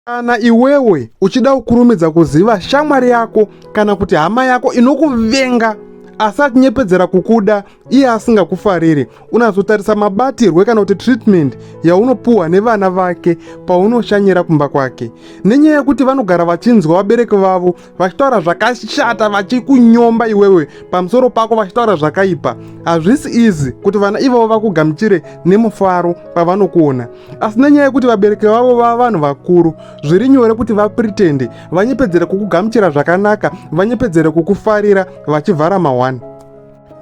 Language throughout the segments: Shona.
Kana iwewe uchida kukurumidza kuziva shamwari yako kana kuti hama yako inokuvenga asi atinyepedzera kukuda iye asingakufariri unazotarisa mabatirwe kana kuti treatment yaunopuhwa nevana vake paunoshanyira kumba kwake nenyaya yekuti vanogara vachinzwa vabereki vavo vachitaura zvakashata vachikunyomba iwewe pamusoro pako vachitaura zvakaipa hazvisi izi kuti vana ivavo vakugamuchire nemufaro pavanokuona asi nenyaya yekuti vabereki vavo vava vanhu vakuru zviri nyore kuti vapritende vanyepedzere kukugamuchira zvakanaka vanyepedzere kukufarira vachivhara mahwani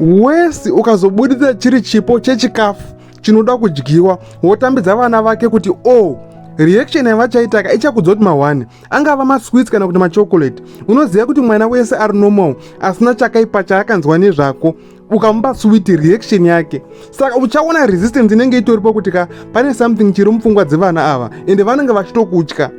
wesi ukazobuditsa chiri chipo chechikafu chinoda kudyiwa wotambidza vana vake kuti o oh, reaction yavachaitaka ichakudza kuti mahwani angava masweets kana kuti machocolate unoziva kuti mwana wese ari normal asina chakaipa chaakanzwa nezvako ukamupa sweet reaction yake saka uchaona resistance inenge itoripo kuti ka pane something chiri mupfungwa dzevana ava ende vanenge vachitokutya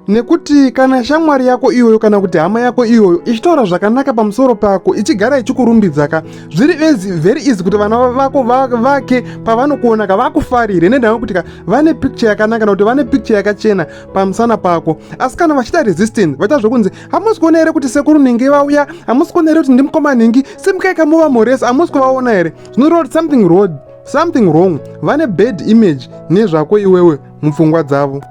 nekuti kana shamwari yako iyoyo kana kuti hama yako iyoyo ichitaura zvakanaka pamusoro pako ichigara ichikurumbidzaka zviri ezi very easy kuti vana vako vake pavanokuonaka vakufarire nendava kuti ka vane picture yakanaka nokuti vane picture yakachena pamusana pako asi kana vachita resistance vaita zvokunzi hamusi kuona here kuti sekuru ningi vauya hamusi kuona here kuti ndimukoma ningi simukaika muva moresi hamusi kuvaona here zvinoreva kuti something wrong something wrong vane bad image nezvako iwewe mupfungwa dzavo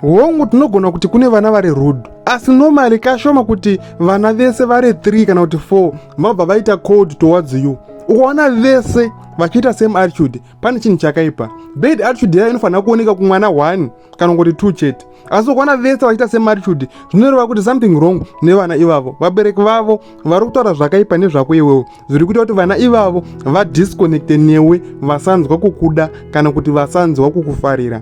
hongu tinogona kuti kune vana vari rude asi normally kashoma kuti vana vese vari 3 kana kuti 4 vabva vaita cold towards you ukaona vese vachiita same attitude pane chinhu chakaipa bed attitude yayo inofanira kuoneka kumwana one kana kuti two chete asi ukwana vese vachiita semaritude zvinoreva kuti something wrong nevana ivavo vabereki vavo vari kutaura zvakaipa nezvako iwewo zviri kuita kuti vana ivavo vadisconnecte newe vasanzwa kukuda kana kuti vasanzwa kukufarira